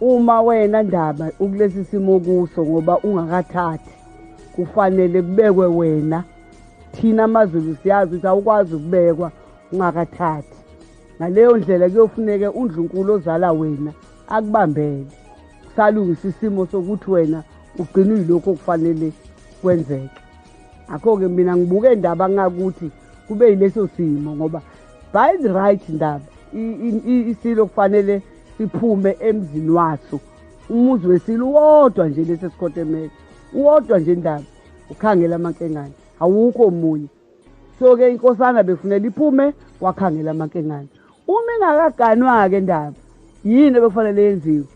uma wena ndaba ukulesi simo kuso ngoba ungakathathi kufanele kubekwe wena thina amazulu siyazi ukuthi awukwazi ukubekwa ungakathathi ngaleyo ndlela kuyofuneke undlunkulu ozala wena akubambele salungisa isimo sokuthi wena ugcina uyilokhu okufanele kwenzeke akho-ke mina ngibuke indaba ngakuthi kube yileso simo ngoba by the right ndaba isilo kufanele siphume emzini waso umuzi wesile uwodwa nje lesi esikhotemele uwodwa nje ndaba ukhangela amankengane awukho omunye so-ke inkosana befunela iphume wakhangela amankengane uma ingakaganwa-ke ndaba yini ebekufanele yenziwe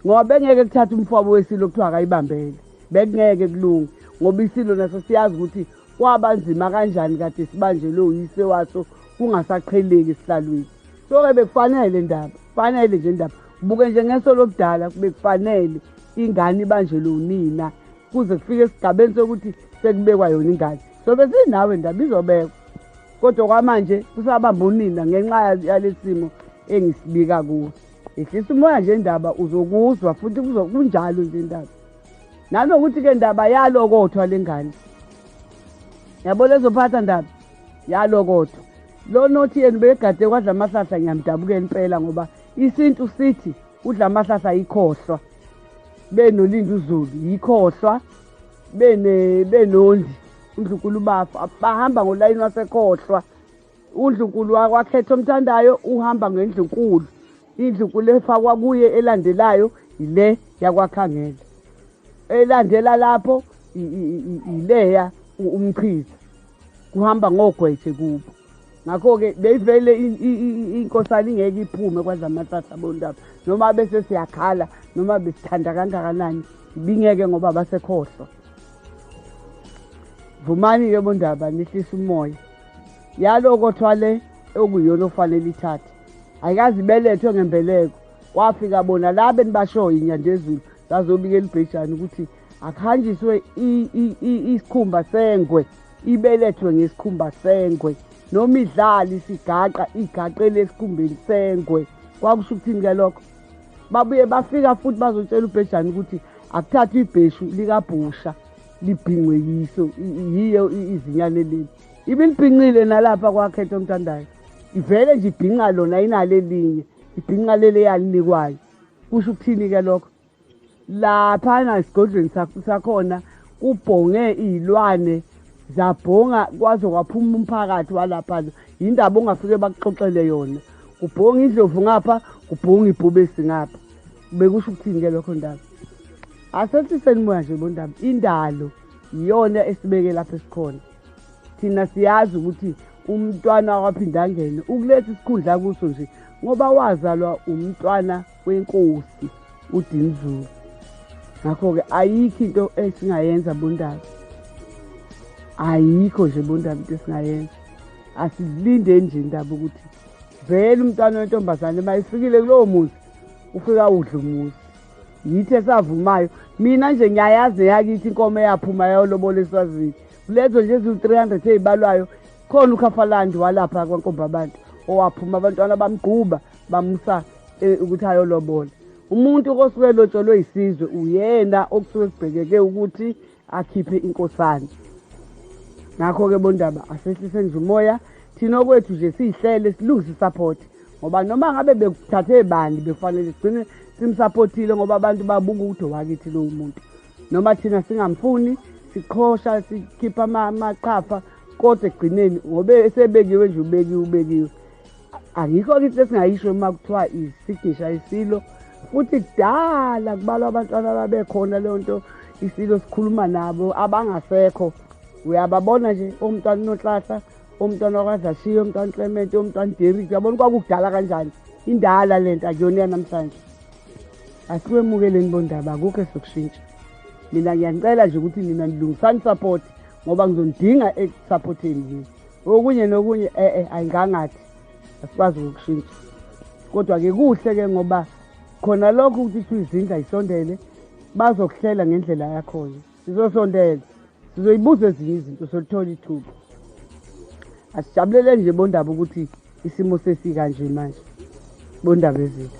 ngoba bengeke kuthatha umfwabo wesilo kuthiwa akayibambele bekungeke kulunge ngoba isilo naso siyazi ukuthi kwabanzima kanjani kade sibanjelwe uyise waso kungasaqheleki esihlalweni soke bekufanele ndaba fanele nje ndaba buke nje ngeso lobudala bekufanele ingane ibanjelwe unina kuze kufike esigabeni sokuthi sekubekwa yona ingane sobe sinawe ndaba izobekwa kodwa kwamanje kusabamba unina ngenxa yalesimo engisibika kuwo ehlisa umoya nje ndaba uzokuzwa futhi kunjalo nje ndaba nanokuthi ke ndaba yalokothwa lengane yabo lezophatha ndaba yalo kodwa lo nothi yena ubegade kwadla amahlahla ngiyamdabukela impela ngoba isintu sithi udla amahlahla yikhohlwa benolindi uzulu yikhohlwa bene benondi uNdlunkulu bafa bahamba ngolayini wasekhohlwa uNdlunkulu wakwakhetha omthandayo uhamba ngendlunkulu indlunkulu efakwa kuye elandelayo ile yakwakhangela elandela lapho ileya umchiza kuhamba ngogwethe kubo ngakho-ke beyivele inkosana ingeke iphume kwadla amathatha bondaba noma bese siyakhala noma besithanda kangakanani bingeke ngoba basekhohlwa vumani-ke bondaba nihlisa umoya yaloko thwale okuyona okufanele ithathe ayikazi ibelethwe ngembeleko kwafika bona la benibashoyo inyandezulu zazobikela ubhejane ukuthi akuhanjiswe isikhumba sengwe ibelethwe ngesikhumba sengwe noma idlali sigaqa igaqele esikhumbeni sengwe kwakusho ukuthini ke lokho babuye bafika futhi bazotshela ubhejane ukuthi akuthathwe ibheshu likabhusha libhingwe yiso yiyo izinyane leli ibilibhinqile nalapha kwakhetha omthandayo ivele nje ibhinqa lona inalo elinye ibhinqa leli eyalinikwayo kusho ukuthini-ke lokho laphana esigodlweni sakhona kubhonge iy'lwane zabhonga kwaze kwaphuma umphakathi walaphana yindaba ongafike bakuxoxele yona kubhonga indlovu ngapha kubhonga ibhubesi ngapha bekusho ukuthini-ke lokho ndaba asehliseni moya nje bondaba indalo iyona esibeke lapho esikhona thina siyazi ukuthi umntwana waphindangene ukuletha isikhundla kuso nje ngoba wazalwa umntwana kwenkosi udinzulu ngakho-ke ayikho into esingayenza bondaba ayikho nje bondaba into esingayenza asilinde nje indaba ukuthi vele umntwana wentombazane uma ifikile kulowo muzi ufika udla umuzi yithi esavumayo mina nje ngiyayazi neyakithi inkomo eyaphuma yayolobola eswazini kulezo nje eziwu-three hundred eyibalwayo khona ukhafalandi walapha kwankomba abantu owaphuma abantwana bamgquba bamusa eh, ukuthi ayolobola umuntu osuke elotsholwe yisizwe uyena okusuke kubhekeke ukuthi akhiphe inkosana ngakho-ke bondaba asehlise nje umoya thina okwethu nje siyihlele silungise isaphothi ngoba noma ngabe bekuthathe bani bekufanele sigcine simsaphothile ngoba abantu babuka ukuthi owakithi lowo muntu noma thina singamfuni siqhosha sikhipha amaqhafa kodwa ekugcineni ngobe esebekiwe nje ubekiwe ubekiwe angikho-ke into esingayisho uma kuthiwa isignisha isilo futhi kudala kubalwa abantwana ababekhona leyo nto isilo sikhuluma nabo abangasekho uyababona nje omntwana unonhlahla omntwana wakwadlashiya omntwana uclement omntwana uderik uyabona kwakukudala kanjani indala le nto akuyona yanamhlanje asiwemukeleni bondaba akukho esokushintsha mina ngiyanicela nje ukuthi nina nilungisani support ngoba ngizonidinga ekusupporteni yini okunye nokunye eh eh ayingangathi asikwazi ukushintsha kodwa ke kuhle ke ngoba khona lokho ukuthi kuthiwa izindla isondele bazokuhlela ngendlela yakhona sizosondela sizoyibuza ezinye izinto solithola ithuba asijabulele nje bondaba ukuthi isimo sesikanje manje bondaba ezinto